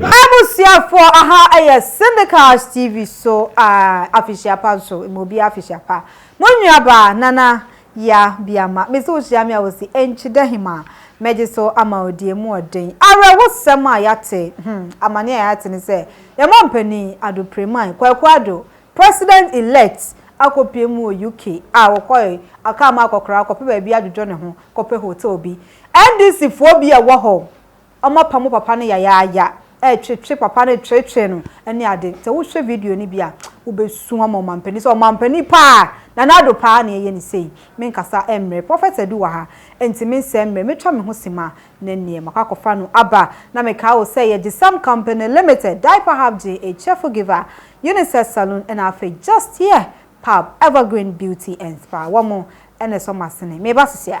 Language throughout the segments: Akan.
M'abusuafoɔ aha yɛ Syndicast TV so aah afehyia pa nso ma obiara afehyia pa Mo nuabaa Nana Yaa Biama mese wo hyia me a wo se Enkyida Hemaa mɛgye so ama wo deɛ mu ɔden Awerɛhosɛm a yɛate hmm amaneɛ a yɛate ne sɛ yɛn mampanin Ado Premain Kwaku Ado President Elect akɔpue mu wɔ UK a ɔkɔe ɔkaa ma akɔkora akɔpɛ baabi adwodwo ne ho kɔpɛ hotel bi NDC foɔ bi a wɔhɔ ɔmo apa mo papa no yayaaya ɛɛtwetwe papa no twetwe no ɛne ade sɛ wohwɛ video no bi a wobɛsu ama ɔmampanin sɛ ɔmampanin paa Nana Addo paa na ɛyɛ no sei menkasa ɛmmerɛ Prophet Adu wɔ ha ɛnti mensɛɛ mmerɛ mɛtwa me ho sima na neɛ makɔ akɔfa no aba na mekaa wo sɛ yɛ Gyesam company limited Diaper Hub Gyee A Cheerful Giver Unisex Saloon ɛna afei Just Here Pub Evergreen Beauty and Spa wɔn ɛna ɛsɔ masene meba sesia.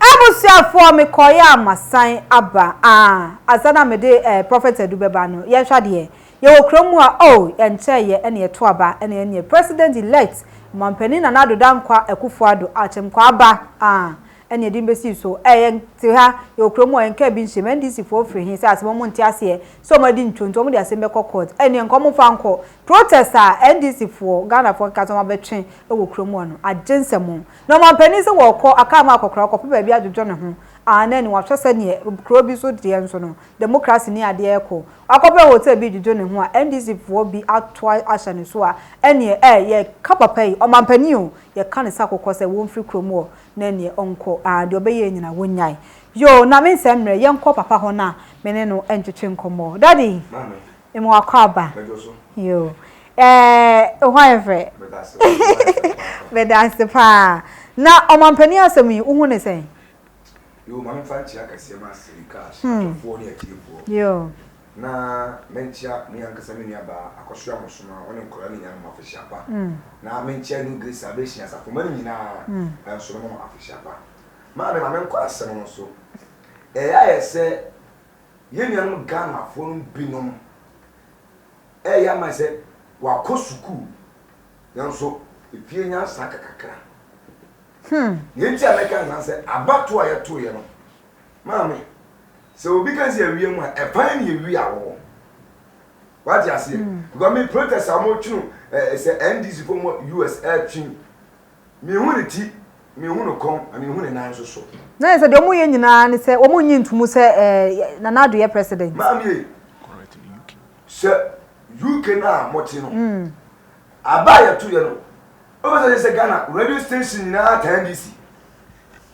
Abusuafoɔ me kɔɔeɛ a masan aba ah Ansa na mede eh, Prophet Adu bɛba no Yɛnhwɛ adeɛ, yɛwɔ kurom mu a oh Ɛnkyɛeɛ ɛne ɛto aba ɛne ɛneɛ President elect Mampanin Nana Addo Dankwa Akufo-Addo Akyem Kwaaba ah ɛne ɛde no bɛsi so ɛ yɛn te ha yɛwɔ kuro mu ɔ yɛn car bi nhyem NDC foɔ firi he sɛ asɛm ɔmo nte aseɛ sɛ ɔmo adi ntwo nti ɔmo de asɛm bɛkɔ court ɛneɛ nka ɔmo mfa nkɔ protest a NDC foɔ Ghana foɔ nka sɛ ɔmo abɛtwe wɔ kuro mu hɔ no agye nsɛm o na ɔmanpanin sɛ wɔɔkɔ akaa mu akɔkora ɔkɔpɛ baabi adwodwo ne ho aane ɛne wahwɛ sɛneɛ kuro bi so deɛ nso no democracy ne adeɛ ɛɛkɔ wakɔpɛ hotel bi dwodwo ne ho a NDC foɔ bi ato ahyɛ ne so a ɛneɛ ɛ yɛka papa yi ɔmanpanin o yɛka ne sakokɔ sɛ wɔmfiri kuro mu ɔ Na ɛneɛ ɔnkɔ aa deɛ ɔbɛyɛɛ nyina wonyae yoo na mensɛ mmerɛ yɛnkɔ papa hɔ na me ne no ntwetwe nkɔmmɔ daddy mema wakwaaba yoo ɛɛɛ hɔ ayɛ fɛ medase paa na ɔmampanin asɛm yi wohu ne sɛn? Yoo ma memfa nkyerɛ akɛseɛ ma asɛyi cash atɔfoɔ ne atiefoɔ yoo. na menkyea me ankasa me nuabaa Akosua Mosom a ɔne nkwadaa no nyinaa ma afehyia pa, na menkyea New Grace Salvation asafomma no nyinaa nso ma afehyia pa. Maame, ma menkɔ asɛm no so. Ɛyɛ ayɛ sɛ yɛn nuanom Ghanafoɔ no binom reyɛ ama sɛ wɔakɔ sukuu, nanso efie nyansa ka kakra. Deɛ enti a mɛka saa sɛ abatoɔ a yɛtoeɛ no, maame, Sɛ obi ka sɛ awia mu a, ɛban ne awia a wɔwɔ. Wate aseɛ? Because me protest a wɔtwe no eh, sɛ NDC fo wɔ US ɛtwe. Mehu ne ti, mehu ne kɔn, na mehu ne nan nso so. Na yɛ sɛ deɛ wɔyɛ nyinaa ne sɛ wɔn nyi ntumu sɛ eh, Nana Addo yɛ president. Maame, sɛ UK no a mote no, mm. aba a yɛto yɛ no, wobɛsɛ sɛ Ghana radio station nyinaa taa NDC.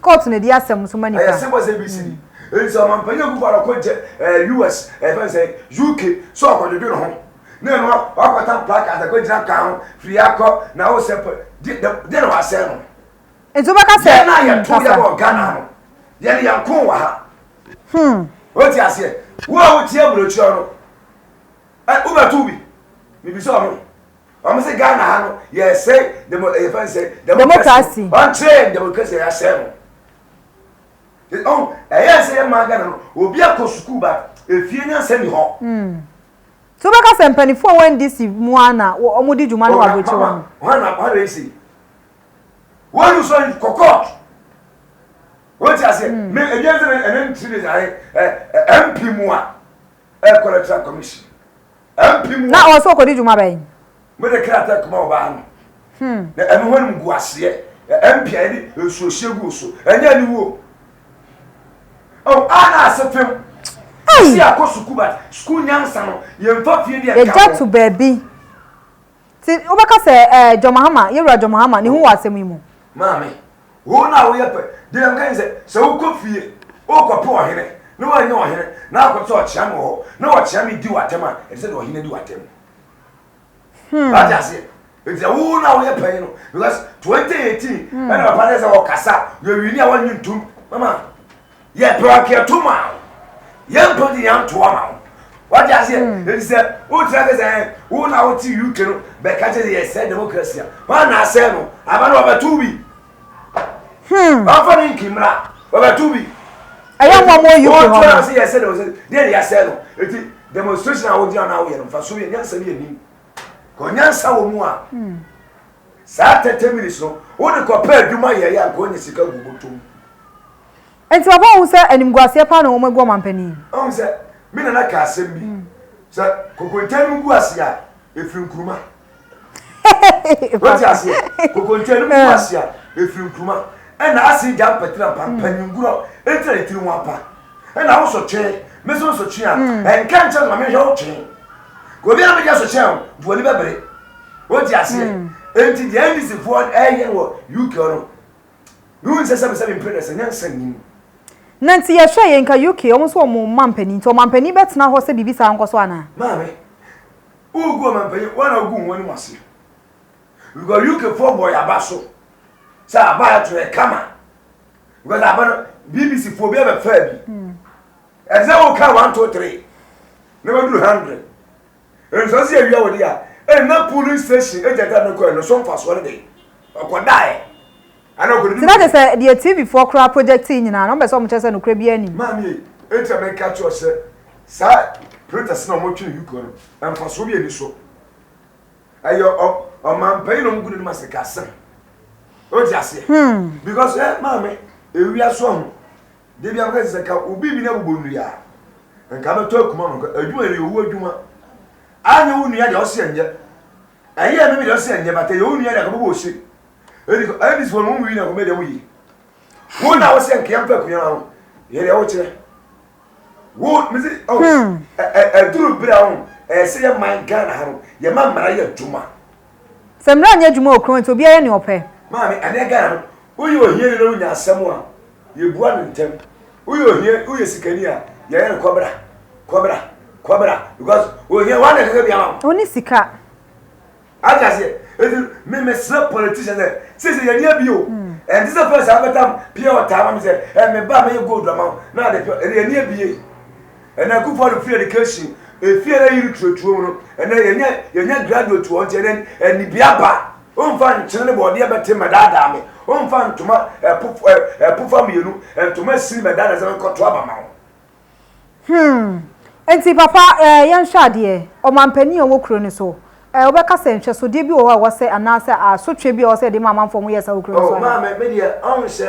Court na di asɛm nso ma nipa. Ɛyɛ simple sɛ ABC ni. Enti sɛ ɔmampanyin Akuffo Addo kɔ gye ɛɛ US ɛɛ fɛn sɛ UK sɛ ɔkɔdwodwo ne ho na ɛno a wakɔtan placards akɔ gyina kwan ho firi ha kɔ na wo sɛ pɛ de de deɛ na wasɛe no. Enti wobɛka sɛ yɛn a yɛ to yɛ wɔ Ghana no yɛ ne yɛn ko wɔ ha. Hmm. Wote aseɛ wo a wotie aburokyerɛ no ɛ wobɛto bi mebisa ɔno Wɔn sɛ Ghana ha no yɛsɛe demo ɛyɛ fɛn sɛ democracy wɔn kyerɛ yɛn democracy yɛ asɛe no ɔn ɛyɛ sɛ yɛ maa Ghana no obi akɔ sukuu ba efie ni asɛm ni hɔ. Hmm. tí o bɛ ka sɛ mpanyinfo a wɔn ndc mu a na wɔn di dwuma no wɔ aburokyi wɔn. wɔn na wɔn na esi wɔn yi sɔn kɔ court wɔn ti ase mi ebi ɛsɛ ɛnɛ ntiri de ayɛ ɛ mp mu a. ɛkɔ electoral commission MP mu Na hɔ. ɔsɛ ɔkɔdi dwuma bɛn? Mode krataa kuma ɔbaa no. Hmm. Na ɛno ho animguaseɛ, ɛ, MP a yɛde nsuohyeɛ gu wo so, ɛnyɛ aniwuo. Oh, a na ase fem. Ei! Ɛsɛ yɛakɔ sukuu but sukuu nyansa no, yɛmfa fie deɛ nka Yɛgya ho. to baabi. Ti wo bɛ ka sɛ ɛɛ John Mahama, yɛ wura John Mahama, ne ho wɔ asɛm yi mu. Maame, wo na wo yɛ pɛ, deɛ yɛ meka ne sɛ, sɛ wo kɔ fie, wo kɔ pɛ ɔhene, na wo annya ɔhene, na akɔ te sɛ ɔkyea me wɔ hɔ, na ɔkyea me di wo atɛm a, ɛte sɛ deɛ ɔhene adi wo atɛm. Hmm. Wate aseɛ? Ɛti sɛ wo na wo yɛ pɛ no, because 2018, hmm. ɛna papa ne sɛ ɔkasa, yɛ wini a wɔnyi ntum, mama. Yɛ pɛrɛkeɛ to maa wo. Yɛ mpɛ de yɛ ntoa ma wo. Wate aseɛ? Mm. Ɛti sɛ wotra kɛ sɛ wo na wote UK no bɛka kyɛ sɛ yɛsɛ democracy a wana na asɛ no aba no wɔbɛto bi. Hmm. Wafa ne nkimmra wɔbɛto bi. Ɛyɛ mɔ mɔ UK hɔ no. Wotra sɛ yɛsɛ democracy deɛ ne yɛsɛ no. Ɛti demonstration a wogyina na woyɛ no mfa so yɛ nyansa bi anim. Kɔ nyansa wɔ mu a. Hmm. Saa thirty minutes no wo de kɔ pɛ adwuma yɛ yɛ anka onya sika gu bɔtɔ mu. Nti papa wohu sɛ animguaseɛ paa na wɔn agu ɔmanpanin. Wohu sɛ me nana kaa asɛm bi sɛ kokonte no mu gu aseɛ a ɛfiri nkuruma wote aseɛ kokonte no mu gu aseɛ a ɛfiri nkuruma ɛna ase gya mpatira mpa mpanyingurɔ ɛtira ne tiri ho apa ɛna wo so twe me so nso twe a ɛnka nkyɛn ma mehwɛ wo twe ka obi a megya so hyɛ wo duani bɛbere Wote aseɛ? Hmm. Enti deɛ NDCfoɔ ɛyɛ wɔ UK no, ne wo nsɛ sɛ mesɛ mempere no sɛ nyansa nnim. Na nti yɛhwɛ yɛ nka UK, wɔn nso wɔn mampanin, nti wɔn mampanin bɛtena hɔ sɛ biribi saa nkɔ so anaa? Maame, wogu wɔn mampanin, wɔn na wogu wɔn anim ase. Because UKfoɔ bɔ yaba so, sɛ aba ato yɛ kama. Because aba no, BBC foɔ bi abɛfaa bi. Hmm. Ɛsɛ wo ka one two three, na waduru hundred. Ɛnsan sɛ awia wɔde a ɛna polling station agent a mekɔɛ no so mfasoɔ no dɛn? Ɔkɔdaeɛ anaa ɔkɔdidi Nti na kyerɛ sɛ deɛ TV foɔ koraa projectee nyinaa no wɔn pɛ sɛ wɔn kyerɛ sɛ nokorɛ biara nni mu. Maame ei, enti na meka kyerɛ wo sɛ saa printers no a wɔtwe no Yukon no mfasoɔ biara nni so. Ɛyɛ ɔmanpanyin na wɔgu n'anim asikasɛm. Wote aseɛ? Because eh, maame, ewia so ahu. Da biara mekae sɛ ka obi bi na bobɔ nnua a, nka abɛtɔ akuma no nka. Adwuma yɛ owu adwuma. Anyɛ wo nua deɛ ɔse ɛnyɛ. Ɛyɛ me me deɛ ɔse ɛnyɛ but ɛyɛ wo nua deɛ akɔbɛbɔ ose. Ɛdi kɔ ɛdi sɛ wɔn wii na kɔmɛ deɛ woyi. Wo na wose nka yɛmpa akuma ma no. Yɛ deɛ wokyerɛ. Wo mese oh ɛduru bere a ho ɛsɛ yɛ man Ghana ha no yɛ ma mmara yɛ adwuma. Sɛ mmara nyɛ adwuma wɔ kurom nti obiara yɛ nea ɔpɛ. Maame, ɛnɛ Ghana no, woyɛ ohiani na wonya asɛm a, yɛbua no ntɛm. Woyɛ ohia, woyɛ sikani a, yɛyɛ no kɔbra, kɔbra, kɔbra because ohia, woa na ɛkeka bi ama wo. Ɔnni sika. Ate aseɛ? Enti no, me mesrɛ politicians sɛ, seesei yɛnni abie o. Ɛnte sɛ first a wobɛtam pure water ama me sɛ, ɛɛ me ba mɛyɛ gold ama wo na ade pure, ɛnde yɛnni abie. Ɛnɛ Kufuor no free education efie na yiri turo turo mu no ɛnɛ yɛnyɛ yɛnyɛ graduate wɔ nti ɛnɛ anibia ba omfa nkyene ne bɔɔdeɛ bɛte mɛdaadaa me omfa ntoma ɛpo ɛpofa mmienu ntoma esini mɛdaadaa sɛ menkɔto aba ma wo. Hmm nti papa ɛɛ yɛnhwɛ adeɛ ɔmanpanin a ɔwɔ kuro no so ɛɛ wobɛka sɛ nhwɛsodeɛ bi wɔ hɔ a ɛwɔ sɛ anaasɛ asotwe bi a ɛwɔ sɛ yɛde ma amanfoɔ wɔyɛ saa wɔ kuro no so anaa. Oh maame me deɛ ɔn sɛ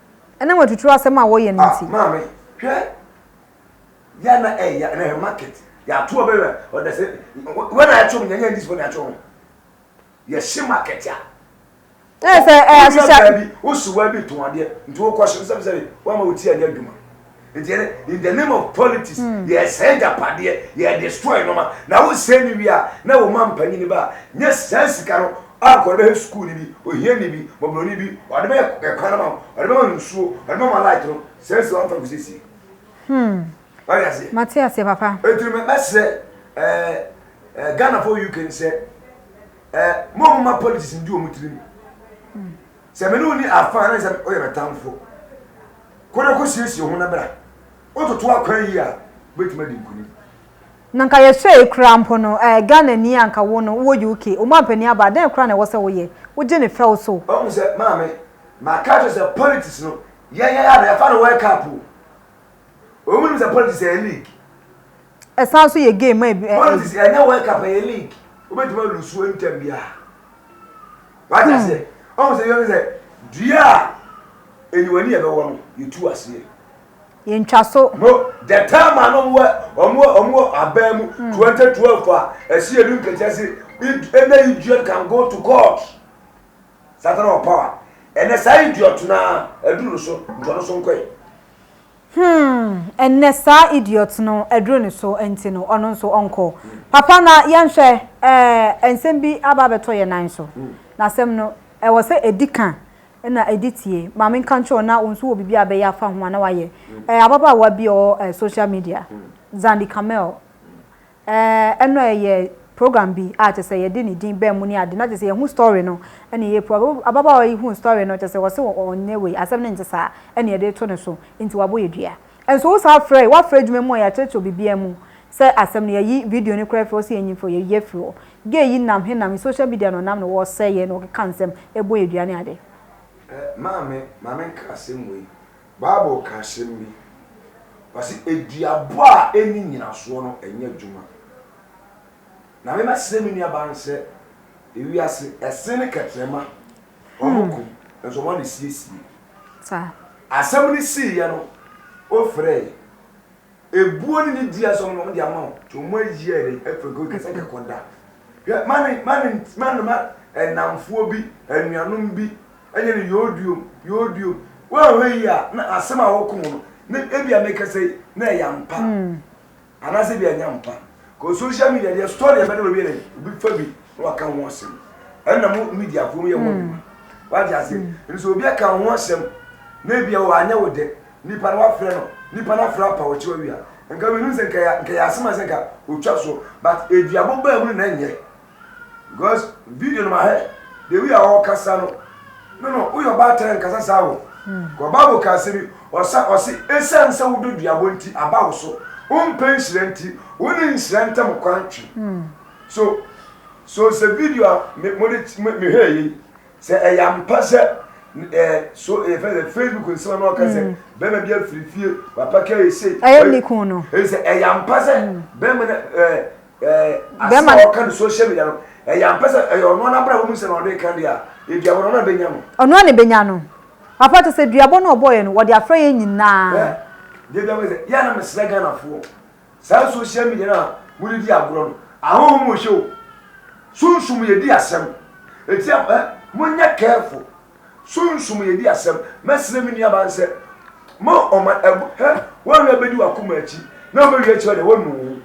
Ɛnam atuturu asɛm a wɔyɛ no nti. Ah maame hwɛ ya na ɛ ya na ɛ market ya to ɔbɛ wɛ ɔdɛ sɛ wɛ na ɛto mu nya nya disipɔ na ɛto mu yɛ hye market ya. Ɛ sɛ ɛ ahyehyɛ. Wɔ baabi wosi wɔ bi to adeɛ nti wokɔ hye sɛbi sɛbi wɔn ama wotia ne adwuma. nti ɛnɛ in the name of politics hmm. yɛsɛe agyapadeɛ yɛdestroy nnoɔma na wosɛe ne wie a na wo ma mpanyini ba a nyɛ saa sika no ankɔre bɛhwɛ sukuu no bi ohiani bi mɔborɔni bi ɔde bɛyɛ ɛkwan no ma ɔde bɛma no nsuo ɔde bɛma light no saa si wamfa kɔsiesie hmm. wade aseɛ mate aseɛ papa ɛtiri mɛsrɛ ghanafoɔ uk n sɛ mɔmoma politics ndi ɔmu tirim hmm. Sɛ me ne wo nni afã a, na ɛsɛ sɛ woyɛ me tamfo. Kɔ na kosiesie wo ho na bra. Wototo akwan yie a, wubetumi adi nkonim. Na anka yɛsɛe koraa mpo no, ɛɛ, Ghanani a anka wo no, wowɔ UK, wo mampanin aba a, dɛn koraa na ɛwɔ sɛ woyɛ? Wogye no fɛw so. Wahu sɛ, Maame, maka akyerɛ wo sɛ politics no, yɛn yɛn ara na yɛfa no World Cup o. Wɔn nnim sɛ politics yɛ league. Ɛsan nso yɛ game a. Politics ɛnyɛ World Cup ɛyɛ league wobɛtumi alusuo ntɛm biara wate aseɛ ɔhu sɛ yɛhu sɛ dua a aniwani ɛbɛwɔ no yɛtu aseɛ yɛntwa so no the time a no ɔmo ɔmo ɔmo abɛn mu 2012 a ɛsi ɛdu nkɛkyɛ se ɛnɛ idiot can go to court satana wɔ power ɛnɛ saa idiot no a ɛdu no so ntɔno so nkɔɛ Hmm ɛnnɛ saa idiot no aduru ne so nti no ɔno nso ɔnkɔ. Papa na yɛnhwɛ eh nsɛm bi aba abɛtɔ yɛn nan so na asɛm no ɛwɔ sɛ ɛdi ka na ɛdi tie. Ma menka nkyerɛ wo na wo nso wɔ biribi a bɛyɛ afa ho a na wayɛ. Eh ababaawa bi a ɔwɔ eh social media Zandi Kamel Ɛɛ ɛno ɛyɛ program bi a kyerɛ sɛ yɛde ne din baa mu ne ade na kyerɛ sɛ yɛhu story no ɛna ɛyɛ program ababaawa yi hu story no kyerɛ sɛ wɔse ɔnyɛ wei asɛm no nte saa ɛna yɛde to ne so nti wabɔ yɛ dua nso wo saa frɛ wafrɛ adwuma mu a yɛakyerɛkyerɛ biribiara mu sɛ asɛm no yɛyi video no koraa afiri hɔ sɛ yɛnyi mfiri hɔ yɛyi afiri hɔ gay yi nam he nam he social media na ɔnam na ɔresɛe yɛn na ɔkeka nsɛm ɛbɔ yɛ dua ne ade. Ɛ Maame ma menka asɛm wei Bible ka asɛm bi, ɔse, aduabɔ a ɛnni nyinasoɔ no ɛnyɛ adwuma. Na me mɛsrɛ me nuabaa no sɛ, ewiase, ɛse ne kɛtrɛma, wɔn ko, nso wɔn na siesie. Asɛm no siiɛ no, wofrɛɛ. Ebuo ne ne dua som na wɔn de ama wo nti wɔn ayi yɛ dɛn afiri kɔ kɛsɛ de kɔ da hwɛ ma ne ma ne ma ne ma ɛnamfoɔ bi anuanom bi ɛnyɛ ne yooduom yooduom wɔanhwɛ yi a na asɛm a wɔko no ne ebi a mekɛsɛ yi na ɛyɛ ampa hmm. anaasɛ bi ɛnyɛ ampa kɔ social media deɛ story ɛbɛ ne wɔbi yɛ dɛn obi fa bi na waka ho asɛm ɛna mo mediafoɔ mu yɛ wɔn hmm. adwuma wagye ase hmm. nso obi aka ho asɛm na ebi a wɔanyɛ wo dɛ Nipa no wafrɛ no nipa no afrɛ apa ɔkyew awia nka me nim sɛ nka yɛ nka yɛ asem a sɛ nka otwa so but eduabo baa mu no na nyɛ because video no mahɛ the way a ɔkasa no no no woyɛ ɔbaatan nkasa saa o kɔ bible ka asɛ bi ɔsa ɔse esan sɛ wodɔ duabo nti aba wo so wompɛ nhyira nti wo ne nhyira ntam kwan twe so so sɛ video a me mo de mehɛ yei Sɛ ɛyɛ ampa sɛ ɛɛ eh, so ɛyɛ eh, fɛ sɛ facebook nsɛm na ɔka sɛ mm. bɛrima bi afiri fie wapa ka ese. ɛyɛ ne kun no. ɛyɛ sɛ ɛyɛ ampa sɛ mm. bɛrima na ɛɛ eh, ɛɛ asɛm a ɔka no social media no ɛyɛ ampa sɛ ɛyɛ ɔno anabra wɔn mu sɛ na ɔde ka deɛ a ebi abɔ na ɔno abɛnya no. ɔno a na ebɛnya no papa te sɛ duabɔ na ɔbɔɔyɛ no wɔde afra yɛn nyinaa. deɛ bi a wɔyɛ sɛ yɛn anam srɛ ghanafoɔ Saa social media no a mode di agorɔ no, ahonhom wɔ hyɛ o, sunsum yɛ di asɛm, enti a eh, monyɛ careful, sunsum yɛ di asɛm, mɛsrɛ me nuabaa no sɛ, ma ɔma ɛb hɛ, woanhwɛ bɛdi w'akoma akyi na ɔbɛwie akyi hɔ deɛ wɔnu wo,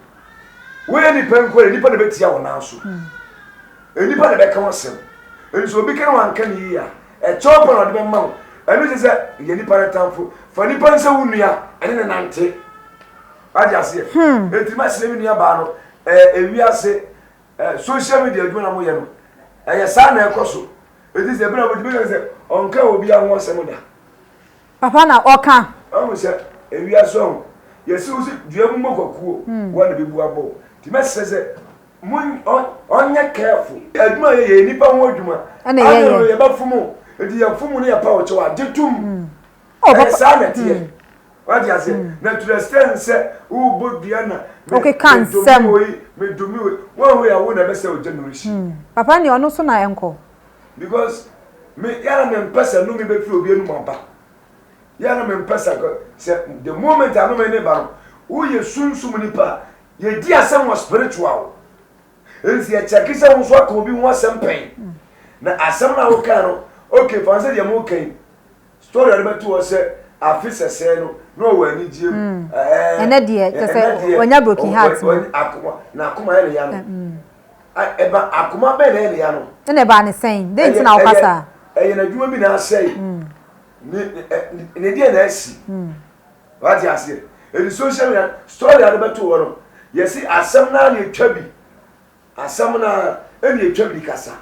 woyɛ nipa nko deɛ nipa na bɛtia wo nan so, nipa na bɛka ho asɛm, enti sɛ obi ka na wanka no yie a, Ɛkyɛw pa na ɔde bɛma wo. Ɛno kyerɛ sɛ yɛ nipa no tamfo. Fa nipa nsɛ wo nua, ɛne ne nante. Wagye aseɛ. Hmm. Eti mahyɛ me nua baa no ɛɛ ewi ase ɛɛ social media adwuma na mo yɛ no. Ɛyɛ saa na ɛkɔ so. Eti sɛ ebɛn na mo ti bɛyɛ sɛ ɔnka obi aho asɛm da. Papa na ɔka. Wahu sɛ ewiase ɔho yɛse wo sɛ dua mu mɔkwakuo woa na bɛbu abɔ wo nti mɛsrɛ sɛ mo ɔnyɛ careful. Adwuma a yɛyɛ yɛ nipa ho adwuma ane no yɛbɛ fom wo nti yɛ fom wo ne yɛpa wo kyɛw a gye tom ɛyɛ saa na ɛteɛ wate aseɛ na to the extent sɛ wo bɔ dua na me dome woi me dome woi woaho yɛ a wo na ɛbɛsɛ ogya no rehye. Papa nea ɔno so na ɛnkɔ. because me yɛ na mempɛ sɛ nnome bɛfiri obi anum aba yɛ na mempɛ sɛ sɛ the moment anome ne ba no woyɛ sunsum nipa a yɛdi asɛm wɔ spiritual nti yɛkyɛke sɛ wo nso aka obi ho asɛm pɛn na asɛm no a wokaa no okay fa sɛ deɛ moka yi story a wobɛto hɔ sɛ afe sɛsɛɛ no na ɔwɔ anigyeɛ mu mm. ɛnɛ deɛ kyɛ sɛ ɔnya broken heart na akoma yɛ ne ya no mm. Ɛba akoma bɛn na ɛnea no. Ɛna ɛbaa ne sɛn? Dɛn nti na wokasa? Ɛyɛ n'adwuma bi na asɛe. Ne deɛ na asi. Wate aseɛ? Ɛdi social media, story a wobɛto hɔ no, yɛse asɛm no ara na ɛtwa bi. Asɛm no ara ɛna ɛtwa bi de kasa.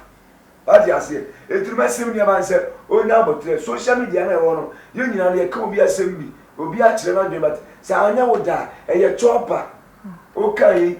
Wate aseɛ? Enti no mɛsrɛ nua baa no sɛ ɔnya aboterɛ. Social media no a ɛwɔ hɔ no, yɛn nyinaa no yɛka obi asɛm bi, obi akyerɛ n'adwene but sɛ anyɛ wo dɛ a, ɛyɛ chopper. Wokaa yi,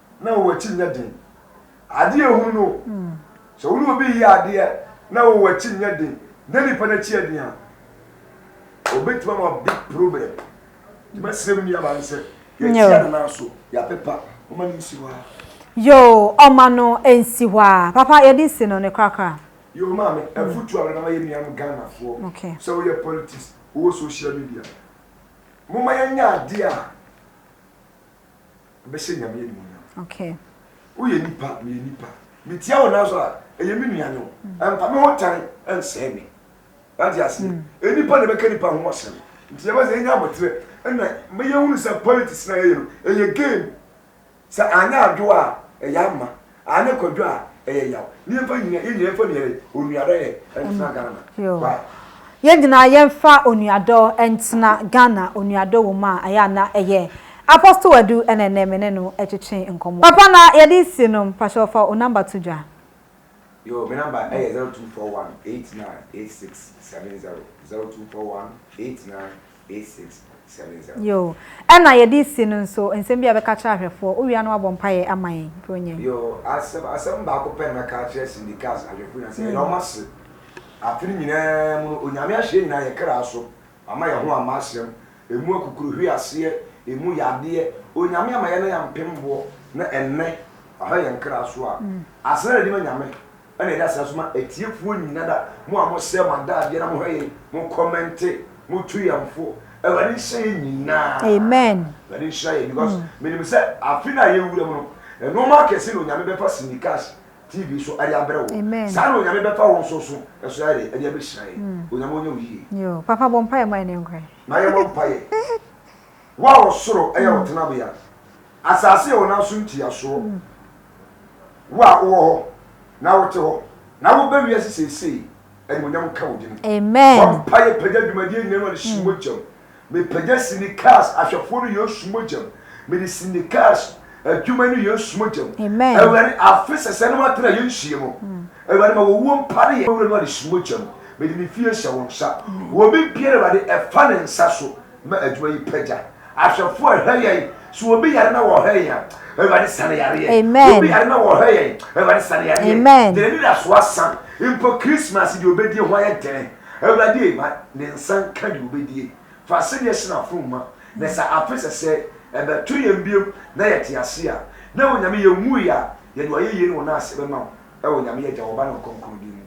na wo akyi nyɛ den. Ade a ehunu no, sɛ wo ne obi reyɛ adeɛ na wo akyi nyɛ den na nipa no akyi yɛ den a, obetumi ama big problem. Nti mɛsrɛ me nuabaa no sɛ yɛtia no nan so, yɛapepa, ɔma no nsi hɔ ara. Yoo, ɔma no nsi hɔ ara. Papa, yɛde nsi no ne korakora. Yoo, maame, afutuo a mede bɛma yɛn nuanom Ghanafoɔ, sɛ woyɛ politics, wowɔ social media, momma yɛnyɛ adeɛ a. bɛhyɛ Nyame animuonyam. Okay. Woyɛ nipa, meyɛ nipa. Metia wo nanso a, ɛyɛ me nua ne wo. Ɛmfa me ho tan ɛnsɛe me. Wate aseɛ? Nnipa na ɛbɛka nnipa ho asɛm. Nti yɛbɛ sɛ yɛnya aboterɛ ɛna ma yɛhunu sɛ politics no a yɛyɛ no, ɛyɛ game. Sɛ anyɛ adwoɔ a, ɛyɛ ama. Aane kwadwo a ɛyɛ yaw. Niɛmfa nyina yɛn nyina yɛnfa nuayɛ onuadɔ yɛ ɛntena Ghana why. Yɛn nyina yɛnfa onuadɔ ɛntena Ghana onuadɔ wɔ mu a ɛyɛ a na ɛyɛ Apostle Adu ɛna ɛnɛ me ne no ɛtwetwe nkɔmɔ. Papa na yɛde si no mpakyɛw fa wo number to dwa. Yoo me number ɛyɛ zero two four one eight nine eight six seven zero zero two four one eight nine Yoo. Ɛna yɛde resi no nso, nsɛm bi a yɛbɛka akyerɛ ahwɛfoɔ, wo wie a na woabɔ mpaeɛ ama yɛn, Buronya yi. Yoo, asɛm, asɛm baako pɛ na mɛka akyerɛ Cindy Cass ahwɛfoɔ nyinaa, sɛ yɛda wɔn ase. Afe no nyinaa mu no, Onyame ahyɛ yɛn nyinaa yɛn kra so, Wama yɛn ho ama asɛm, ɛmu akukuruhweaseɛ, ɛmu yadeɛ, Onyame ama yɛn na yɛampem boɔ, na ɛnnɛ, Waha yɛn kra so a, asena na yɛde ma Nyame, Ɛna yɛda ase nso ma atiefoɔ nyina da, mo a mo sɛɛ mo adaadeɛ na mo hwɛ yɛn, mo kɔmɛnte, mo tu yɛn fo. Awurade nhyira yɛn nyinaa. Amen. Awurade nhyira yɛn because menim sɛ afe no a yɛwura mu no, nnoɔma akɛse na Onyame bɛfa Cindy Cash TV so ɛde abrɛ wo. Amen. Saa na Onyame bɛfa wo nso so ɛso ayɛdɛ ɛde abɛhyira yɛn. Onyame ɔnyɛ wo yie. Yoo, Papa bɔ mpaeɛ ma yɛn nkɔ ɛ. Ma yɛmmɔ mpaeɛ. Wo a ɔsoro ɛyɛ wo tenabea, Asase a wonam so ntua soɔ. Wo a wowɔ hɔ na wote hɔ na woba wiase seesei, animuonyam nka wo din. Bɔ mpaeɛ pagya dwumadie nyina no ɔde si mogyam. Mepagya Syndicars ahwɛfoɔ no Yesu mogyam. Mede Syndicars adwuma no Yesu mogyam. Awurade afe sɛsɛɛ no matena yɛ nsie mu. Awurade ma wɔwuo mpare yɛ. Wura no ɔde si mogyam. Mede ne fie hyɛ wo nsa. Wɔ me biara Awurade ɛfa ne nsa so Ma adwuma yi pagya ahwɛfoɔ a ɛhwɛ yɛn. So obi yare na wɔhwɛ yɛn a, Awurade sa ne yareɛ. Amen. Obi yare na wɔhwɛ yɛn, Awurade sa ne yareɛ. Amen. Deɛ n'ani da so asa mpo Christmas deɛ ɔbɛdie ho ayɛ dene. Awurade e, ma ne nsa nka deɛ ɔbɛdie. Fa asɛdeɛ hyɛ n'afono ma, na sɛ afe sɛsɛɛ ɛbɛto yɛn biom na yɛte ase a, na Onyame yɛnwuiɛ a, yɛde ayɛyie ne wo nan ase bɛma wo, ɛwɔ Nyame Agya, Ɔba ne Ɔkronkron din mu.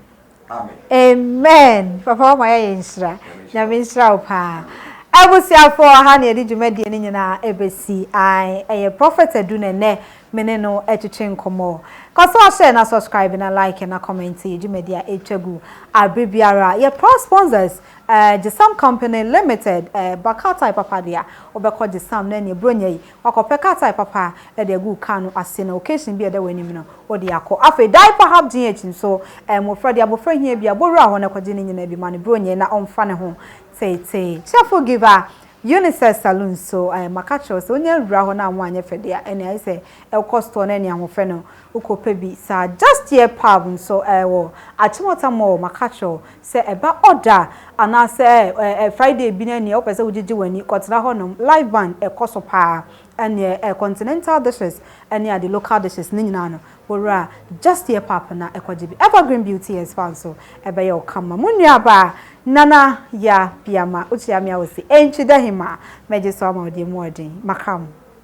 amen papa wama yɛayɛ nhyira nyame nhyira wo paa abusuafoɔ ha ne yɛde dwumadie no nyinaa ɛbɛsi ae ɛyɛ prophet adu na ɛnɛ me ne no ɛtwetwe nkɔmmɔ kɔ so ahyɛ na subscribe na like na comment yɛ dwumadie a ɛtwa gu abere biara yɛ proud sponsors uh, Gisam Company Limited uh, Bakatai Papa deɛ wobɛkɔ Gisam na ɛne ɛburo nyɛ yi Wakɔpɛ car tyre papa de agu wo car no ase na occasion bi a ɛda w'anim no, wode akɔ. Afei diaper hapdh nso, mmofra de abofra hia bi a, bowura hɔ na kɔgye ne nyinaa bi ma no bronyɛ na ɔmfa ne ho teetee. Cheerful Giver Unisex Saloon nso, maka akyerɛ wo sɛ wonya wura hɔ na anwo anyɛ fɛ de a, ɛnneɛ ayɛ sɛ wokɔ store na ɛne ahoɔfɛ no wokɔpɛ bi saa. Just Hear Pub nso wɔ Achimota Mall, maka akyerɛ wo Sɛ ɛba ɔda a, anaasɛ ɛɛ Friday bi no ɛnneɛ wopɛ sɛ wogyegye w'ani kɔtena hɔnom, live band ɛkɔ so pa ara, ɛnneɛ ɛɛ continental dishes ne ade local dishes ne nyinaa no, wo werɛ a, just yɛ pap na ɛkɔgye bi. Evergreen Beauty and Spa nso, ɛbɛyɛ wo kama. Mo nuabaa, Nana Yaa Piama, wokyia me a wose, Ɛntwi da he maa, mɛgye so ama wo deɛ mu ɔden, maka mo.